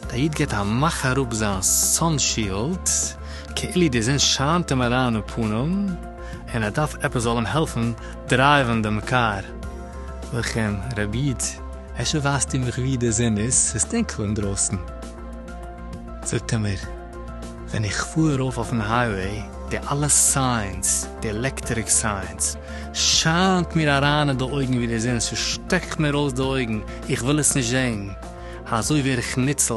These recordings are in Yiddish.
דער איד געט א מאך אראפ זיין סאן שילד, כאילו די זון שיינט אים אריין אין פנים, און ער דארף עפעס זאל אים העלפן דרייווען דעם קאר. לכן, רבי איד, אפשר ווייזטו מיך וואו די זון איז, ס'איז טונקל אינדרויסן. זאגט ער מיר, ווען איך פאר ארויף אויפן הייוועי, די אלע סיינס, די עלעקטעריק סיינס, שיינט מיר אריין אין די אויגן ווי די זון, ס'שטעקט מיר אויס די אויגן, איך וויל עס נישט זען. אזוי ווער איך ניצל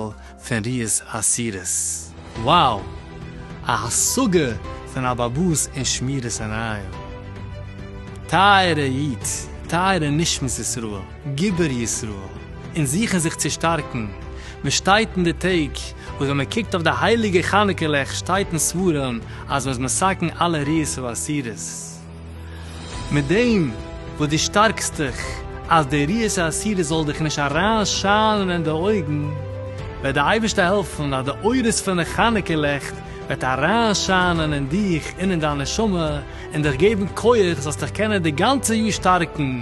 פון ריאות אסירות. Wow! א השגה פון אבעבוס און שמירת עיניים. טייערע איד, טייערע נשמת ישראל, גיבור ישראל, אונז זוכן זיך צו שטארקן, מען שטייט אין די טעג וואס ווען מען קוקט אויף די הייליגע חנוכה לעכט שטייט אין ספרים אז מען איז מסכן אלע ריאות ואסירות, מיט דעם וואס דו שטארקסט דיך אז די ריאות האסירות זאל דיך נישט אריין שיינען אין די אויגן, וועט די אייבערשטער העלפן אז די אורות פון די חנוכה לעכט וועט אריין שיינען אין דיך און אין דיין נשמה און דיך געבן כח זאלסט דיך קענען די גאנצע יאר שטארקן